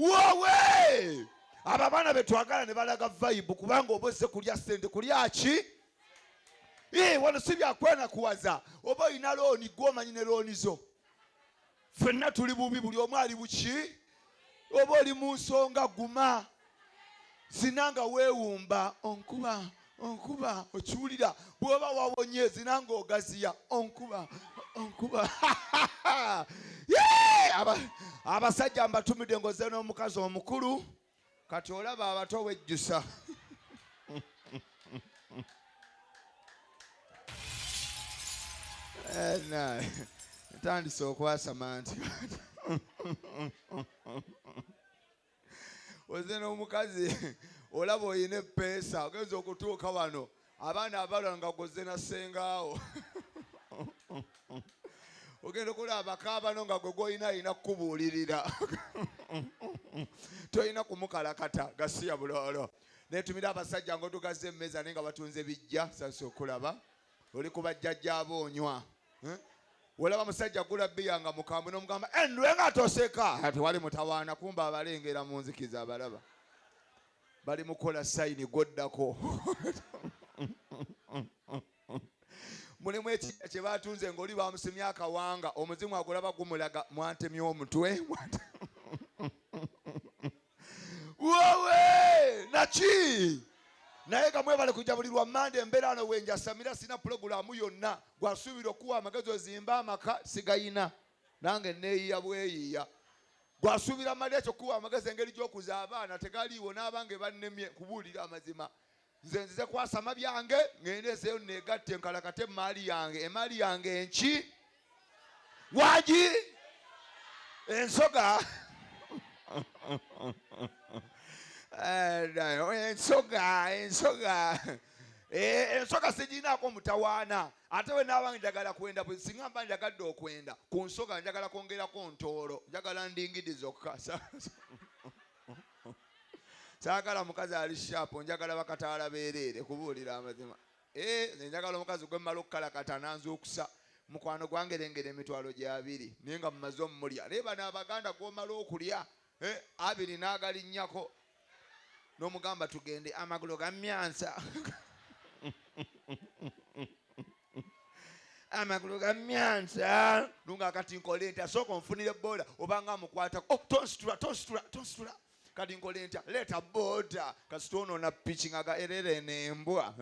wowe abo abaana betwagala ne balaga vayibu kubanga oba ozze kulya sente kulya ki eh, wano si byakwenakuwaza oba olina looni gwomanyi ne looni zo fenna tuli bubi buli omu ali buki oba oli mu nsonga guma zina nga weewumba onkuba onkuba okiwulira bwoba wawonye zina nga ogaziya onkuba onkuba abasajja mbatumidde ngoze n'omukazi omukulu kati olaba abato wejjusa eh, ntandise okwasama nti oze n'omukazi olaba olina epeesa ogenza okutuuka wano abaana abala nga goze na sengaawo ogenda okulaba abakaabano nga gwe gwolina alina kukubuulirira tolina kumukalakata gasiya buloolo netumira abasajja ngaotugaza emmeeza naye nga batunze bijja sasi okulaba oli ku bajjajja abo onywa eh? olaba musajja gula biya nga mukambwe nomugamba endwe eh, nga toseka tewali mutawaana kumba abalengera mu nzikiza abalaba bali mukola sayini gwoddako mulimu ekija kye batunze ngaoli bamusimya akawanga omuzimu agulaba gumulaga mwantemya omutwe wowe naki naye nga mwebale kujja buli lwa mande embeera ano wenjasamira sina pulogulaamu yonna gwasuubira okuwa amagezi ozimba amaka sigayina nange neeyiya bweyiya gwasuubira mali ekyo kuwa amagezi engeri gy'okuza abaana tegaliiwo n'abange bannemye kubuulira amazima nze nzize kwasama byange ŋŋende ezeeyo neegatte nkalakate emmaali yange emmaali yange enki wagi ensoga eh, ensoga ensoga eh, ensoga sigirinaako mutawaana ate we naabange njagala kwenda singa mba njagadde okwenda ku nsoga njagala kwongerako ntoolo njagala ndingidi zokka saagala mukazi ali shaapu njagala bakataala beereere kubuulira amazima eh, nze njagala omukazi gwe mmala okukalakata nanzuukusa mukwano gwangerengera emitwalo gyabiri naye nga mumaze omumulya naye bano abaganda gwomala okulya eh, abiri n'agalinnyako n'omugamba tugende amagulu gamyansa amagulu ga myansa lunga kati nkole ntya sooka onfunire booda obanga amukwatako oh, tonsitula tonsitula tonsitula kati nkole ntya leeta booda kasita ono na piki nga gaerere nembwa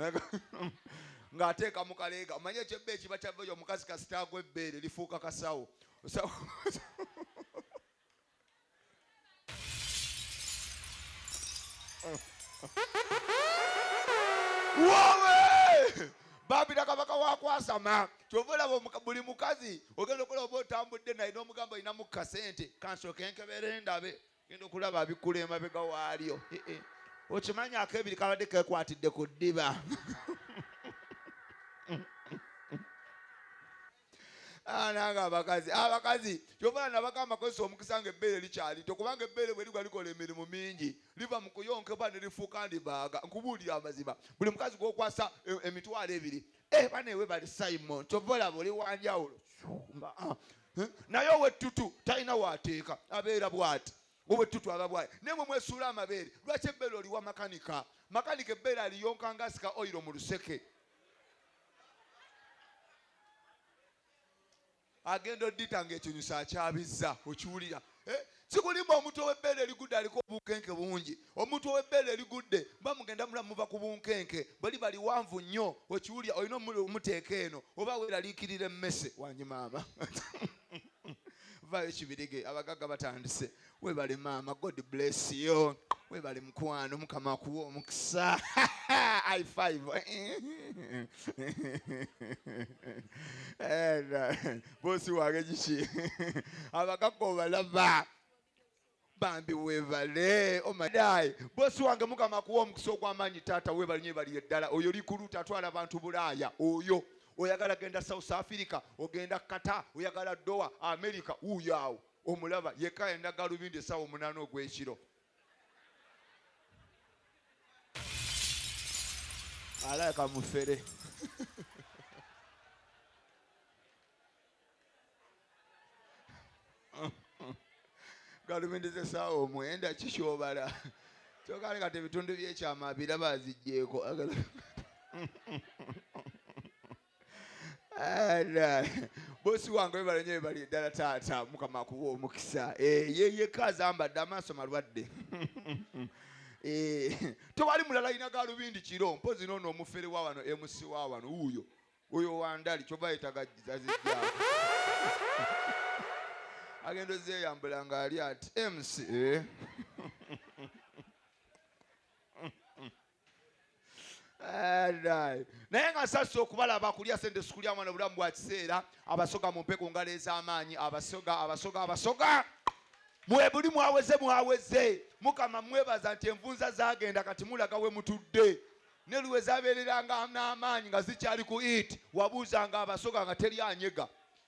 ng'ateeka mu kaleega omanye ekyebba ekiba kyava oyo omukazi kasita agwa ebbeere lifuuka kasawo babira kabaka wakwasama kyova olaba buli mukazi ogenda okulaba oba otambudde naye n'omugamba olinamu kasente kansooka enkebere ndabe genda okulaba abikkula emabega waalyo eh, eh. okimanyi akebiri kabadde kekwatidde ku ddiba Ah, nange abakazi abakazi ah, kyobala nabagamba kozesa omukisa nga ebbeere likyalito kubanga ebbeere bwe ligwa likola emirimu mingi liva mu kuyonkebwa ne lifuuka ndibaaga nkubuulira amazima buli mukazi gwokwasa eh, emitwalo ebiri eh, banewe bali simon kyova olaba oli wanjawulo ah, eh, naye owettutu talina wateeka abeera bwati owettutu aba bwati naye mwe mwesuula amabeere lwaki ebbeere oliwa makanika makanika ebbeere aliyonka nga asika oyiro mu luseke agenda odita nga ekinyusa akyabizza okiwulira eh, sikulimba omuntu owebbeere erigudde aliko obunkenke bungi omuntu owebbeere erigudde bamugenda mulamu muva ku bunkenke bali baliwanvu nnyo okiwulira olina omuteeka eno oba weraliikirira emmese wanyi maama vayo kibirige abagagga batandise webale maama god bless you webale mukwano mukama akuwa omukisa i five bosi wange kiki abakaka obalaba bambi webale omadai oh bosi wange mukama akuwa omukisa ogwamaanyi taata webale nyo baliye ddala oyo likuluta atwala abantu bulaaya oyo oyagala genda south africa ogenda kata oyagala doa america uyo awo Omulaba yekka yalina galubindi essaawa omunaana ogw'ekiro. Alabika mufere. galubindi z'essaawa omwenda kikyobala kyoka leka tebitundu by'ekyama biraba aziggyeko bosi wange webale nyo webali eddala taata mukama akuwa omukisa eh, yeyeka azambadde amaaso malwadde eh, tewali mulala alina galubindi kiro mpozi noono omufere wa wano emusi wa wano wuuyo oyo wandali kyova yetaga zazijjaa agenda ozeyambula nga ali ati mc eh. naye nga sassa okubalaba kulya sente sikulya mwana obulamu bwa kiseera abasoga mumpe ku ngalo ez'amaanyi abasoga abasoga abasoga mwebuli mwaweze mwaweze mukama mwebaza nti envunza zagenda kati mulaga we mutudde ne luwe zabeereranga n'amaanyi nga zikyali ku it wabuuzanga abasoga nga teri anyega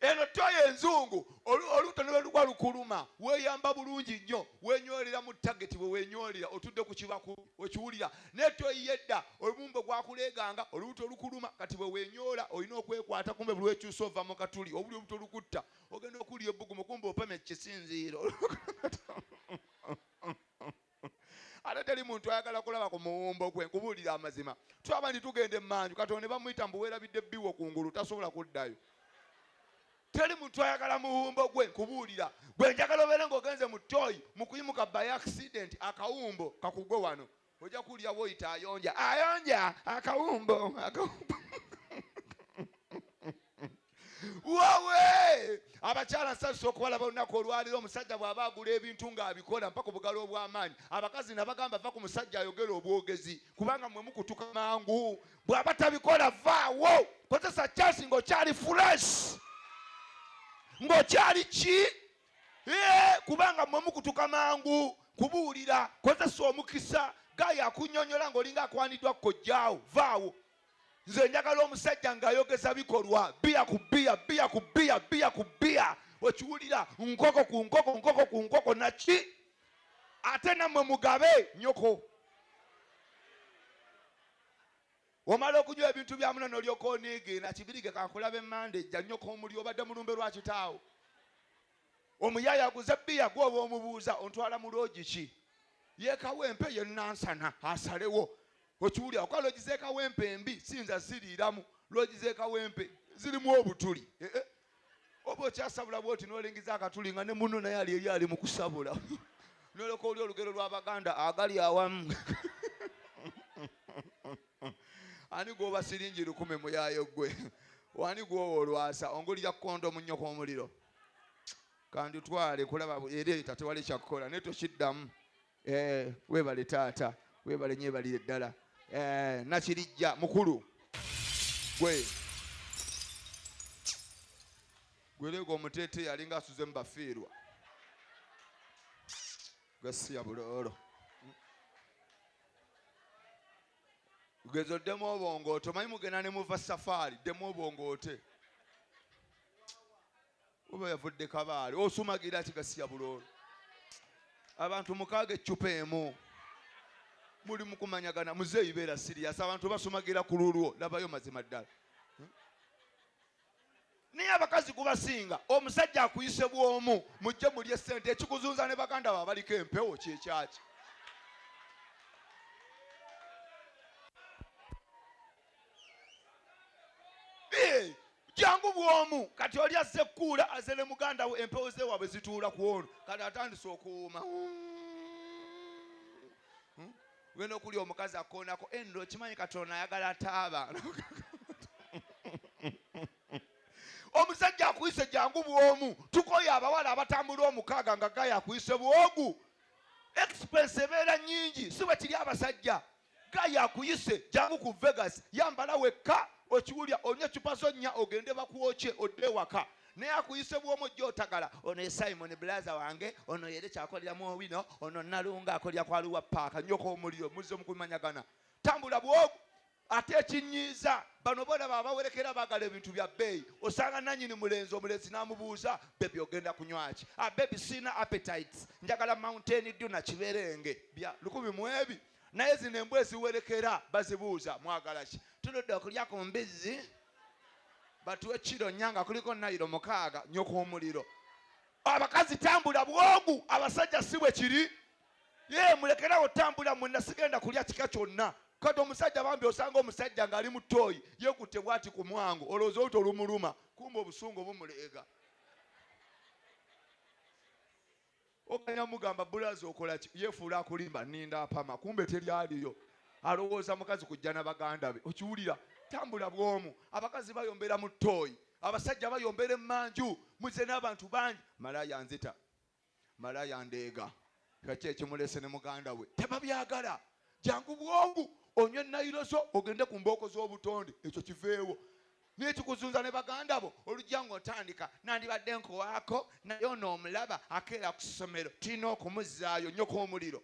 eno toyo enzungu olubuto neweluba lukuluma weyamba bulungi nnyo wenyolera mu tageti wewenyolera otudde ku kibaku okiwulira naye toyi yedda olumumbo gwakuleeganga olubuto lukuluma kati bwewenyola olina okwekwata kumbe buli wekyusa ova mu katuli obuli olubuto lukutta ogenda okuwulira ebbugumu kumbe opamye kisinziiro ate teri muntu ayagala kulaba ku muwumbo gwe nkubuulira amazima tulaba nti tugenda emanju katonda ne bamuyita mbu weerabidde biwo ku ngulu tasobola kuddayo teri muntu ayagala muwumbo gwe nkubuulira gwe njagala obeere ngaogenze mu toyi mu kuyimuka by accident akawumbo kakugwe wano ojja kuwulira woyita ayonja ayonja akawumbo akawumbo wawe abakyala nsazisa okubalaba olunaku olwaliro omusajja bw'aba agula ebintu ng'abikola mpaka obugalo obw'amaanyi abakazi nabagamba va ku musajja ayogera obwogezi kubanga mwe mukutuka mangu bw'aba tabikola vaawo kozesa kyasi ng'okyali furesh ng'okyali ki kubanga mwe mukutuka mangu kubuulira kozesa omukisa gayo akunyonyola ng'olinga akwaniddwa kojjaawo vaawo nze njagala omusajja ng'ayogeza bikolwa biya ku biya biya ku biya biya ku biya okiwulira nkoko ku nkoko nkoko ku nkoko naki ate nammwe mugabe nyoko omala okunywa ebintu bya muno nolyoka oniige nakibirige kankulabe mande jja nyoko omuli obadde mulumbe lwakitaawo omuyaye aguze bbiya gwoba omubuuza ontwala mu loogi ki yekawempe ye nansana asalewo okiwulira okuba loogi zekawempe embi siyinza ziriiramu loogi zekawempe zirimu obutuli eh, eh. oba okyasabula bwoti nolingiza akatuli nga ne muno naye ali eri ali mu kusabula noloka oli olugero lw'abaganda agali awamu ani gwoba siringi lukume muyayo gwe wani gwowa olwasa ongulira kukonda omunyoko omuliro kandutwale kulaba era eta tewali kyakukola naye tokiddamu eh, webale taata webale nyebalire ddala eh, nakirijja mukulu gwe gwerega omuteete yalinga asuze mu bafiirwa gasiya buloolo ugezo demu obongo oto manyi mugenda ne muva safari demu obongo ote oba yavudde kabaale osumagira kigasiya buloolo abantu mukaaga eccupa emu muli mukumanyagana muzeeyi beera siriyasi abantu basumagira ku lulwo labayo mazima ddala naye abakazi gubasinga omusajja akuyise bwomu mujje mulye sente ekikuzunza ne baganda ba baliko empewo kyekyaki jangu bwomu kati oli azze kuula aze ne muganda we empewo zewaabwe zituula ku ono kati atandise okuwuuma hmm. Ugenda okulya omukazi akoonako endro okimanyi katonda ayagala taaba omusajja akuyise jangu bwomu tukoye abawala abatambula omukaaga nga gaya akuyise bwogu expense ebeera nyingi si bwe kiri abasajja gaya akuyise jangu ku vegas yambala wekka okiwulya onywa ecupa zo nnya ogende bakwokye odde ewaka naye akuyise bwomu gyotagala ono ye simon bulaza wange ono yere kyakolera mu owino ono nalunga akolera kwa luwa paaka nyoko omuliro muzze mukumanyagana tambula bwogu ate ekinyiiza bano bolaba abawerekera bagala ebintu bya bbeeyi osanga nanyini mulenzi omulenzi namubuuza bebi ogenda kunywaki abebi ah, siina appetites njagala mountain dyo nakiberenge bya lukumi mwebi naye zino embwa eziwerekera bazibuuza mwagalaki tuludde okulya ku mbizzi batuwe kiro nnya nga kuliko nayiro mukaaga nyoka omuliro abakazi tambula bwogu abasajja si bwe kiri ye mulekerawo tambula mwena sigenda kulya kika kyonna kati omusajja bambi osanga omusajja ng'ali mu tooyi yekutte bwati ku mwango olowooza oluti olumuluma kumba obusungu obumuleega Oganya mugamba bulaza okolaki yefuula akulimba ninda apama kumbe teri aliyo alowooza mukazi kujja na baganda be okiwulira tambula bwomu abakazi bayombera mu tooyi abasajja bayombera emanju muze n'abantu bangi malaya nzita malaya ndeega kaki ekimulese ne muganda we tebabyagala jangu bwongu onywe nayirozo ogende ku mbooko z'obutonde ekyo kiveewo naye kikuzunza ne baganda bo olujja ng'otandika nandibadde nkowaako naye ono omulaba akeera ku ssomero tulina okumuzzaayo nyoka omuliro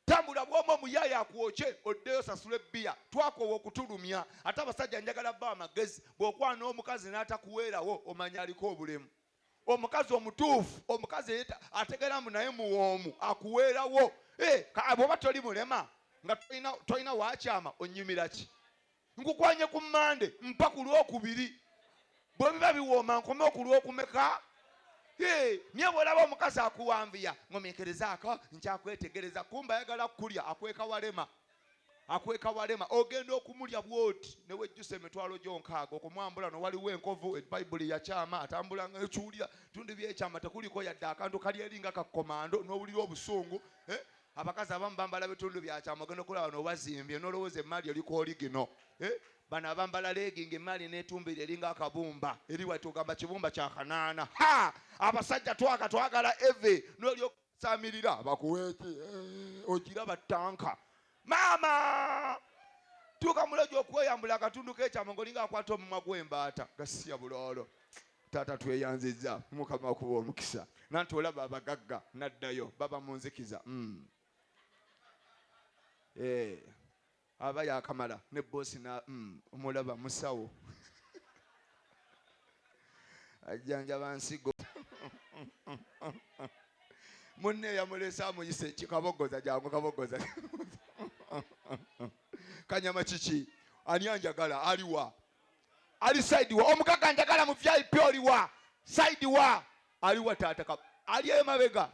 tambula bwomu omuyaaye akwokye oddeyo sasula ebbiya twakoowa okutulumya ate abasajja njagala ba amagezi bw'okwana omukazi n'atakuweerawo omanya aliko obulemu omukazi omutuufu omukazi ategera mbu naye muwoomu akuweerawo eh, bwoba toli mulema nga tolina wakyama onyumira ki nkukwanye ku mande mpa ku lwokubiri bwe biba biwooma nkome okulwokumeka niye bwolaba omukazi akuwanvuya ngomekerezaako nkyakwetegereza kumba ayagala kukulya akweka walema akweka walema ogenda okumulya bwoti newejjusa emitwalo gyo nkaaga okumwambula no waliwo enkovu ebayibuli yakyama atambula nga ekiwulira tundu byekyama tekuliko yadde akantu kali eri nga kakomando nowulira obusungu eh? abakazi abamu bambala bitundu byakyama ogenda okulaba nobazimbye nolowooza emaali eliko oligino eh? bano abambala leegi nga emaali netumbira eringa akabumba eri wati ogamba kibumba kyakanaana abasajja twaka twagala eve nolyoka samirira bakuweeki eh, okiraba tanka maama tuuka mulogi okweyambula akatundu kekyama ngaolinga akwata omumwa gwembaata gasiya buloolo taata tweyanziza mukama kuba omukisa nanti olaba abagagga naddayo baba munzikiza mm. eh, Aba yakamala ne boss na umm omulaba musawo ajjanjaba nsigo munne yamulese amuyise kikabogoza jangu kabogoza kanyama kiki ani anjagala aliwa ali side wa omugaga njagala mu vip oliwa side wa aliwa taata ali emabega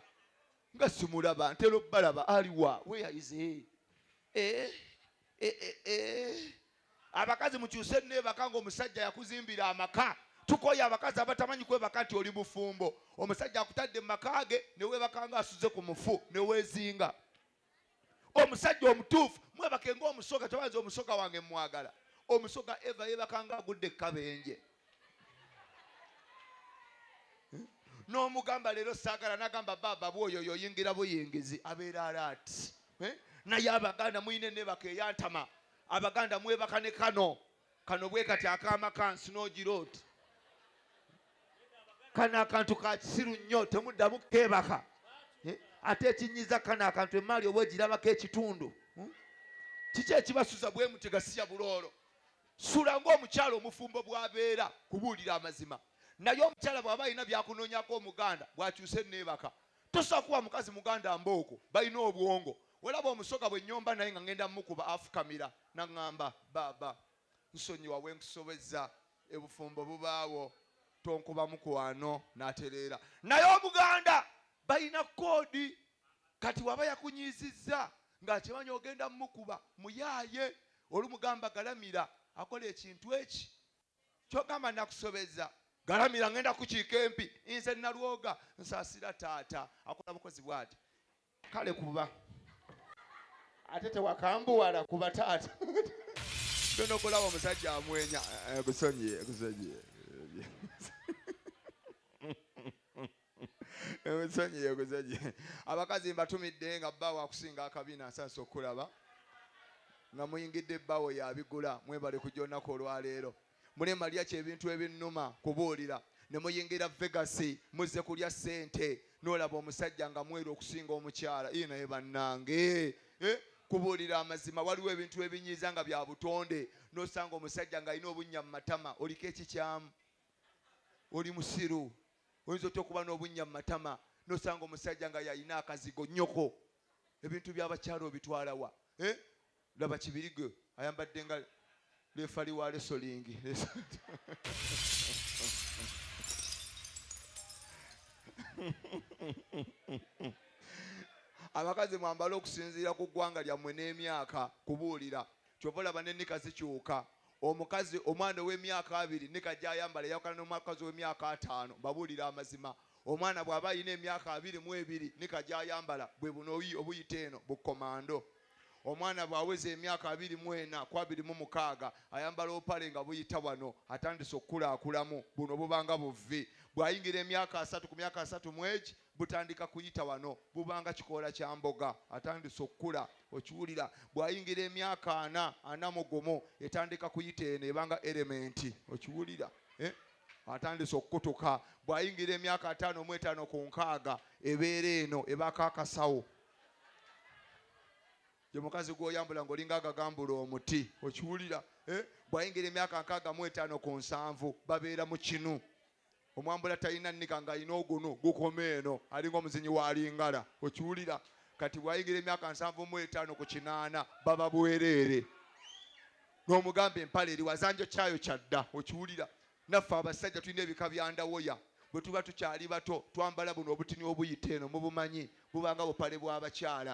nga simulaba ntera okubalaba aliwa weyaize eh, eh, eh, abakazi mukyuse nebaka nga omusajja yakuzimbira amaka tukoye abakazi abatamanyi kwebaka nti oli mufumbo omusajja akutadde mu maka ge newebaka nga asuze ku mufu newezinga omusajja omutuufu mwebake ngaomusoga tebanza omusoga wange mwagala omusoga eva yebakanga agudde kabenje n'omugamba leero saagala nagamba baaba bwoyo oyo oyingira buyingizi abeera alaati eh? naye abaganda mulina enebaka eyantama abaganda mwebaka ne kano kano bwe kati akaama ka nsinogi road kano akantu ka kisiru nnyo temuddamu keebaka eh, ate ekinyiza kano akantu emaali oba egirabako ekitundu hmm? kiki ekibasuza bwe muti gasiya buloolo sula ng'omukyala omufumbo bw'abeera kubuulira amazima naye omukyala bw'aba alina byakunoonyako omuganda bw'akyuse neebaka Tosobola kuwa mukazi muganda mbooko balina obwongo. Olaba omusoga bwe nnyomba naye nga ngenda mukuba afukamira n'aŋŋamba baaba nsonyiwa bwe nkusobezza ebufumbo bubaawo tonkuba mukwano n'atereera. Naye Omuganda balina kkoodi kati waba yakunyiizizza ng'akimanyi ogenda mukuba muyaaye olumugamba galamira akola ekintu eki kyogamba nakusobeza galamira ngenda kukiika empi nze nalwoga nsasira taata akola bukozi bwati kale kuba ate tewakambuwala kuba taata tonokulaba omusajja amwenya eh, busonyi busonyi ensonyi yeguzaje abakazi mbatumidde nga bba wakusinga akabina asansa okukulaba nga muyingidde bbawo yabigula mwebale kujja olunaku olwaleero mune malya kyebintu ebinnuma kubuulira ne muyingira vegasi muzze kulya ssente nolaba omusajja nga mweru okusinga omukyala ii naye bannange eh? kubuulira amazima waliwo ebintu ebinyiiza nga bya butonde nosanga omusajja ng'alina obunnya mu matama oliko ekikyamu oli musiru Oyinza otya okuba n'obunnya mu matama n'osanga omusajja nga y'alina akazigo? Nnyoko, ebintu by'abakyala obitwala wa? Eh? Laba Kibirige ayambadde nga leefali wa lesolingi. Abakazi mwambale okusinziira ku ggwanga lyammwe n'emyaka, kubuulira. Ky'ova olaba n'ennika zikyuka. Omukazi, omwana ow'emyaka abiri ne kajja ayambala eyawukana n'omuakazi ow'emyaka ataano. Mbabuulira amazima, omwana bw'aba alina emyaka abiri mu ebiri ne kajja ayambala, bwe buno oyi obuyita eno, bukkomando. Omwana bw'aweza emyaka abiri mu ena ku abiri mu mukaaga, ayambala obupale nga buyita wano, atandise okukulakulamu, buno buba nga buvvi. Bw'ayingira emyaka asatu, ku myaka asatu mu egi, Butandika kuyita wano, buba nga kikoola kya mboga, atandise okukula, okiwulira. Bw'ayingira emyaka ana, ana mu gumu, etandika kuyita eno, eba nga erementi, okiwulira, eh? atandise okukutuka. Bw'ayingira emyaka ataano mu etaano ku nkaaga, ebeera eno, ebaako akasawo. Ye mukazi gw'oyambula ng'olinga agagambula omuti, okiwulira, eh? Bw'ayingira emyaka nkaaga mu etaano ku nsanvu, babeera mu kinu. Omwambula talina nniga nga alina ogunu gukoma eno alinga omuzinyi wa lingala okiwulira kati bwayigira emyaka nsanvu mu etaano ku kinaana baba bwereere n'omugamba empale eri wazanjo kyayo kyadda okiwulira naffe abasajja tulina ebika bya ndawoya bwe tuba tukyali bato twambala buno obutini obuyita eno mubumanyi bubanga bupale bw'abakyala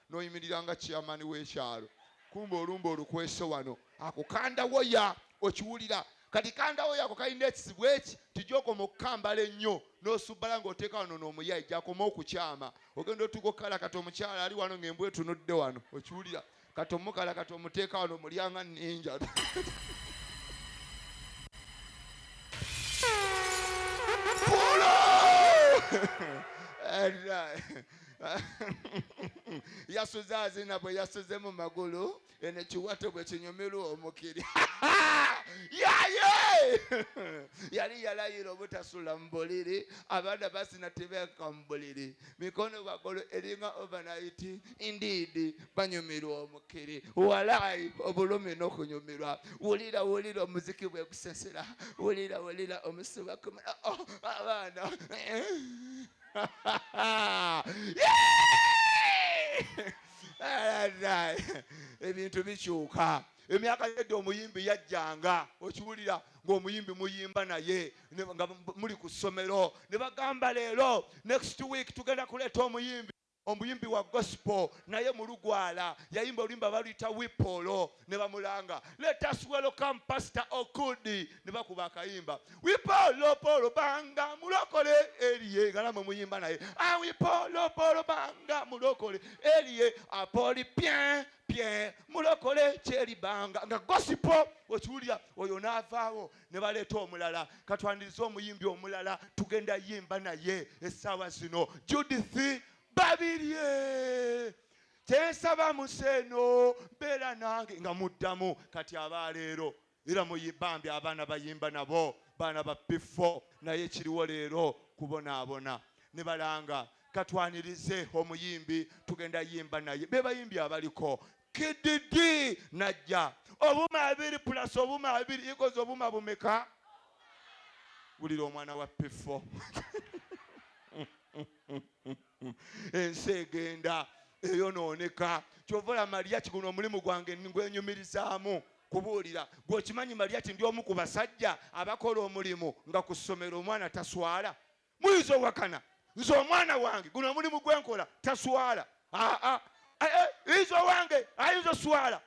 n'oyimirira nga chairman w'ekyalo kumba olumba olukwese wano ako kandawoya okiwulira kati kandawoya ako kalina ekizibu eki tijokoma okukambala ennyo n'osubbala ng'oteeka wano n'omuyayi gyakoma okukyama ogenda otuuka okukala kati omukyala ali wano ng'embwa etunudde wano okiwulira kati omukala kati omuteeka wano omulyanga ninja yasuze azina bwe yasuze mu magulu eno ekiwato bwe kinyumirwa omukiri yaye yali yalayira obutasula mu buliri abaana basina tebeeka mu buliri mikono bagolo eringa overnight indeed banyumirwa omukiri walayi obulumi n'okunyumirwa wulira wulira omuziki bwe gusesera wulira wulira omusiba kumira oh, abaana ebintu bikyuka emyaka yedde omuyimbi yajjanga okiwulira ngaomuyimbi muyimba naye nga muli ku ssomero ne bagamba leero next week tugenda kuleeta omuyimbi omuyimbi wa gospel naye mulugwala yayimba oluyimba baluyita wipolo ne bamulanga let us welcome pastor okudi ne bakuba akayimba wipolopolo banga mulokole eriye galama omuyimba naye ah, wipolopolo banga mulokole eriye apoli pien pien mulokole kyeribanga nga gosipo okiwulira oyo naavaawo ne baleeta omulala katwandirize omuyimbi omulala tugenda yimba naye essaawa zino judith babirye kyensaba museeno mbeera nange nga muddamu kati abaaleero era muyibambi abaana bayimba nabo baana ba pifo naye kiriwo leero kubonaabona ne balanga katwanirize omuyimbi tugenda yimba naye bebayimbi abaliko kididi najja obuma abiri plus obuma abiri ikoze obuma bumeka wulira omwana wa pifo ensi egenda eyonooneka kyova ola maliyaki guno omulimu gwange ngwenyumirizaamu kubuulira gweokimanyi maliyaki ndi omu ku basajja abakola omulimu nga ku ssomero omwana taswala muyinza owakana nze omwana wange guno omulimu gwenkola taswala aa ah, ah. eh, eh, iza owange ayinza oswala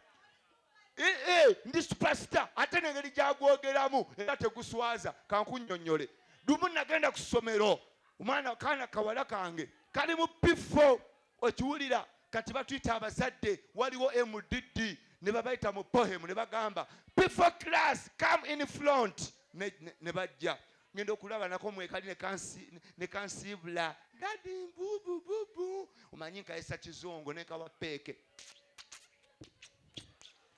eh, ndi supasita ate nengeri gyagwogeramu era teguswaza kankunyonyole lumu nagenda ku ssomero omwana kaana kawala kange kali mu pifo okiwulira kati batuyita abazadde waliwo mdd ne babayita mu pohemu ne bagamba before class come in front ne bajja ngenda okulaba nako mwekali ne kansiibula dadi mbubububu omanyi nkayesa kizungu nekawa peeke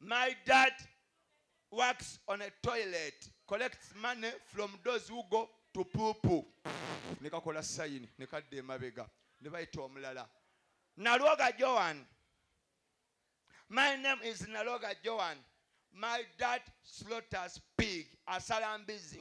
My dad works on a toilet, collects money from those who go to pupu. Ne kakola sayini ne kadda emabega ne bayita omulala Nalwoga Joan. My name is Nalwoga Joan. My dad slaughters pig, asala mbizi.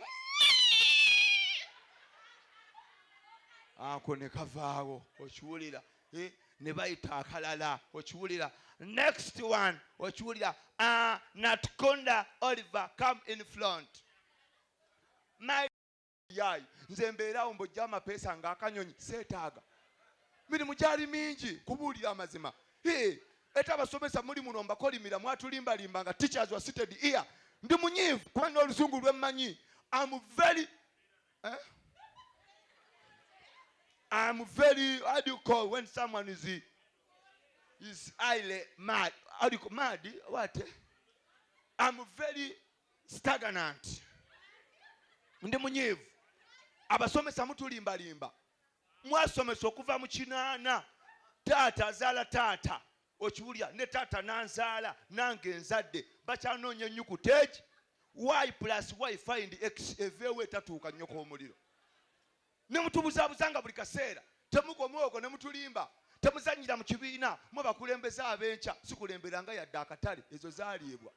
Ako ne kavaawo okiwulira Eh, ne bayita akalala okiwulira next one okiwulira ah, natkonda oliver come in front my yayi nze mbeerawo mbojja amapeesa nga akanyonyi seetaaga mirimu gyali mingi kubuulira amazima eta abasomesa muli muno mbakolimira mwatulimbalimba nga teachers wa seated ear ndi munyiivu kuba n'olusungu lwemmanyi am very Eh? I'm very, how do you call when someone is, is highly mad? How do you call mad? What? I'm very stagnant. Ndi munyivu. Abasomesa mutulimbalimba. Mwasomesa okuva mu kinaana. Taata azaala taata. Okiwulira ne taata nanzaala nange nzadde bakyanoonya ennyukuta egi y plus y find x eveewo etatuuka nnyoko omuliro ne mutubuzabuza nga buli kaseera temukoma okwo ne mutulimba temuzannyira mu kibiina mwe bakulembeze ab'enkya sikulemberanga yadde akatale ezo zaliibwa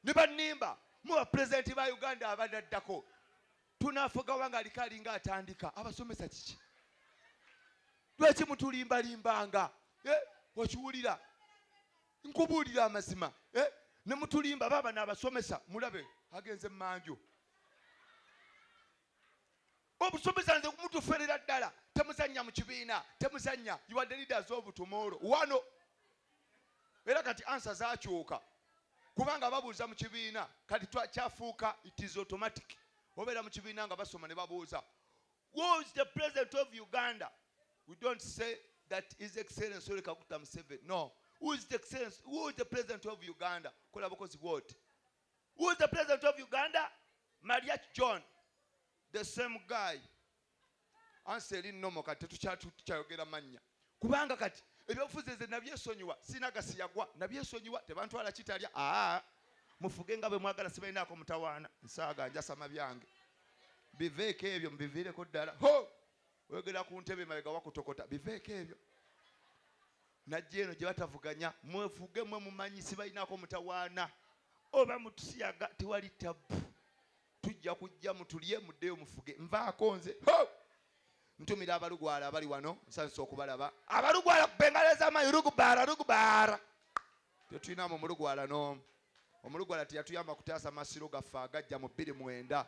ne bannimba mwe bapulezidenti ba uganda abadaddako tunafuga wanga aliko alinga atandika abasomesa kiki lwaki mutulimbalimbanga eh, okiwulira nkubuulira amazima eh, ne mutulimba baaba naabasomesa mulabe agenze mumanju obusomesa nze mutuferera ddala temuzannya mu kibiina temuzannya yiwadde leaders of tomorrow wano era kati ansa zakyuka kubanga babuuza mu kibiina kati kyafuuka it is automatic obeera mu kibiina nga basoma ne babuuza who is the president of uganda we don't say that is excellence ole kaguta museveni no who is the excellence who is the president of uganda kola bukozi bwoti who is the president of uganda mariach john the same guy ansi eri nomo kati tetukyayogera mannya kubanga kati ebyobufuzi nze nabyesonyiwa sirina gasi yagwa nabyesonyiwa tebantwala kitalya aa mufuge nga bwemwagala sibalinaako mutawaana nsaaga njasama byange biveeko ebyo mubiviireko ddala ho oyogera ku ntebe mabega wakutokota biveeko ebyo najja eno gye batavuganya mwefuge mwe mumanyi sibalinaako mutawaana oba mutusiyaga tewali tabbu tujja kujja mutulye muddeyo mufuge nvaako nze ntumira abalugwala abali wano nsanyusa okubalaba abalugwala kubengaleza amayi rugubara rugubara tetulinamu omulugwala n'omu omulugwala teyatuyamba kutaasa masiro gaffe agajja mu bbiri mwenda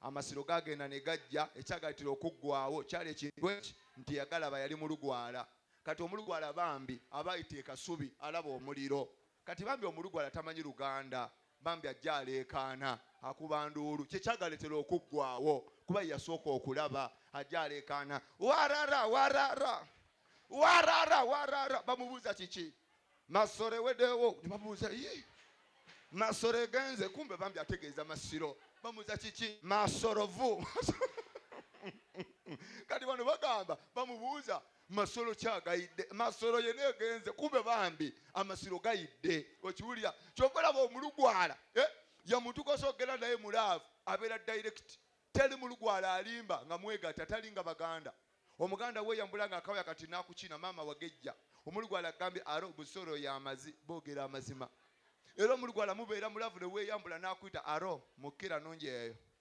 amasiro gagenda ne gajja ekyagalitira okuggwawo kyali ekintu eki nti yagalaba yali mulugwala kati omulugwala bambi abayita ekasubi alaba omuliro Kati bambi omulugwala tamanyi luganda bambi ajje aleekaana akuba nduulu kyekyagaletera okuggwaawo kuba yeyasooka okulaba ajje aleekaana warara warara warara warara bamubuuza kiki masore wedewo nebamubuuza yi masoro egenze kumbe bambi ategeeza masiro bamubuuza kiki masorovu kati bano bagamba bamubuuza masolo kyagayidde masolo yena egenze kumbe bambi amasiro gayidde okiwulira kyova olaba omulugwala eh? yamutuka sogera naye mulaavu abeera direct teri mulugwala alimba nga mwegata tali nga baganda omuganda weyambula nga akawaya kati nakukina maama wagejja omulugwala agambye ara obusolo yamazi bogera amazima era omulugwala mubeera mulavu neweyambula nakuyita aro mukira nungi eyo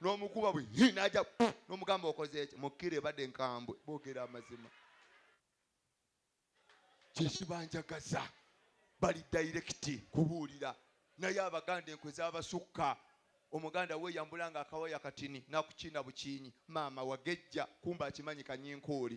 n'omukuba bwe n'aja n'omugamba okoze ekyo mukkira ebadde nkambwe boogera amazima kyekibanjagaza bali dayirekiti kubuulira naye abaganda enkwe zabasukka omuganda weyambula nga akawaya katini nakukiina bukiinyi maama wagejja kumba akimanyi kanyinkuuli